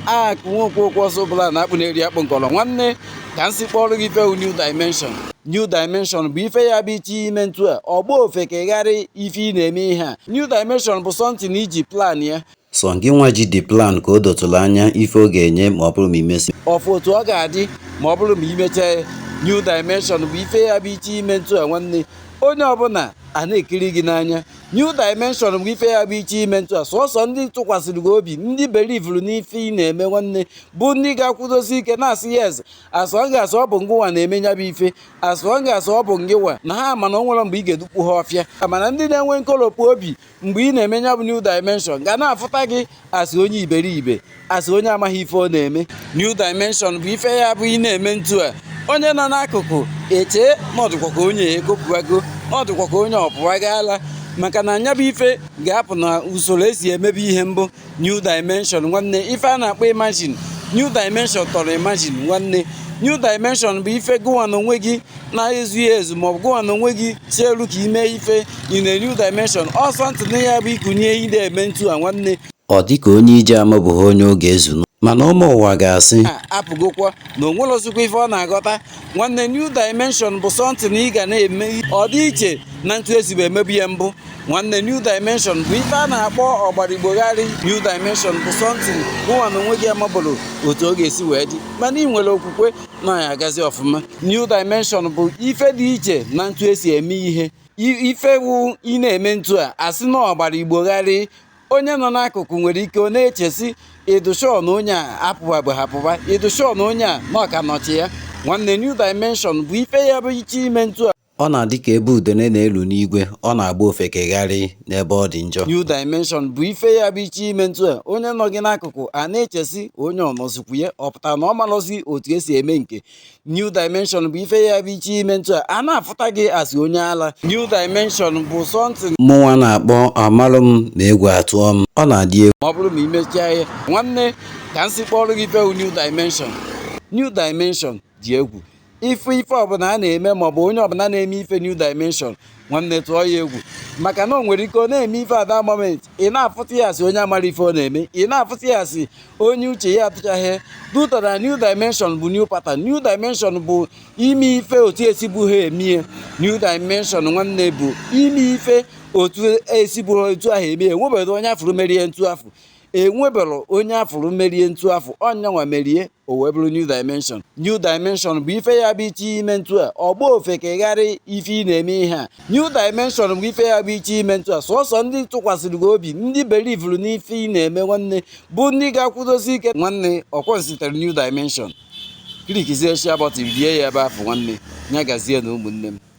ak nwoke okwu ọsọ bụla na-akpụ na-eri akpụ nkọrọ nwanne ka m si kpọrọ gị ife new dimension new dimension bụ ife ya bụ iche ime ntu a ọ gba ofeke gharịị ife ị na-eme ihe a new dimension bụ something i ji plan ya sọ gịnwa ji the plan ka o dotụrụ anya ife ọ ga-enye ma ọ bụrụ ma i mesi ọ fụ otu ọ ga-adị ma ọ bụrụ ma i mechaa new dimension bụ ife ya bụ iche ime ntu a nwanne onye ọbụla a na-ekiri gị n'anya New Dimension bụ ife ya bụ iche ime ntụ a sọsọ ndị tụkwasịrị gị obi ndị belivuru n'ife ị na-eme nwanne bụ ndị ga-akwụdosi ike na-asị yes as long as ọ bụ ngịwa na-eme nya bụ ife as long as ọ bụ ngịwa na ha mana o nwere mgbe ị ga-edukpu ha ọfịa mana ndị na-enwe nkolopu obi mgbe ị na-eme nya bụ New Dimension ga na-afụta gị asị onye iberibe asị onye amaghị ife ọ na-eme new dimension bụ ife ya bụ ị na-eme ntu a onye nọ n'akụkụ echee ma ọ dịkwa ka onye ekopụwago ọ dịkwa ka onye ọ pụwago ala maka na nya bụ ife ga-apụ n'usoro e si emebe ihe mbụ new dimension nwanne ife a na-akpọ imagine new dimension tọrọ imagine nwanne new dimension bụ ife gụwa n'onwe gị na-ezughị ezu ma ọ bụ gụwa n'onwe gị si elu ka ime ife in a new dimension ọ something na ya bụ ikunye ide eme ntu a nwanne ọ dị ka onye ije amabụghị onye oge ezunu mana ụmụ ụwa ga-asị apụgokwa na o nwerozikwa ife ọ na-aghọta nwanne new dimension bụ something ị ga na-eme ọ dị iche na ntu e sibu emebu ya mbụ nwanne new dimension bụ ife a na-akpọ ọgbara Igbo gharịị new dimension bụ something gụwa n'onwe gị amabụrọ otu ọ ga-esi wee dị mana i nwere okwukwe na ya agazi ọfụma new dimension bụ ife dị iche na ntu e si eme ihe ife wu ị na-eme ntu a asị na ọgbara Igbo gharịị onye nọ n'akụkụ nwere ike ọ na-eche sị ị dụ sure na onye a apụbabụha apụba ị dụ sure na onye a nọkwa n'uche ya nwanne new dimension bụ ife ya bụ iche ime ntu a Ọ na-adị ka ebe udene na-elu n'igwe, ọ na-agba ofeke gharịị n'ebe ọ dị njọ. New Dimension bụ ife ya bụ iche ime ntu a onye nọ gị n'akụkụ a na-eche sị onye ọ nọzikwa ya ọ pụtara na ọ marọzi otu e si eme nke New Dimension bụ ife ya bụ iche ime ntu a a na-afụta gị asị onye ala New Dimension bụ something Mụnwa na-akpọ amalụ m ma egwu atụọ m, ọ na-adị egwu. ma ọ bụrụ ma i mechaa ya nwanne ka m si kpọrọ gị ife bụ New Dimension New Dimension dị egwu ife ife ọbụla a na-eme maọbụ onye ọbụla na-eme ife new dimension nwanne tụọ ya egwu maka na o nwere ike ọ na-eme ife at that moment ị na-afụta ya asị onye amarọ ife ọ na-eme ị na-afụta ya asị onye uche ya atụchaghị duta na new dimension bụ new pattern new dimension bụ ime ife otu e sibuha emie new dimension nwanne bụ ime ife otu e sibu otu ahụ emie enwebeghị onye afụrụ merie ntu afụ enwebelụ onye afụrụ merie ntu afụ ọ nyanwa merie o wee bụrụ new dimension new dimension bụ ife ya bụ iche ime ntu a ọ gba ofeke gharị ife ị na-eme ihe a new dimension bụ ife ya bụ iche ime ntu a sọsọ ndị tụkwasịrị gị obi ndị belivuru n'ife ị na-eme nwanne bụ ndị ga-akwụdosi ike nwanne ọkwa o sitere new dimension klikizie share button bie ya ebe afụ nwanne nya gazie nụ ụmụnne m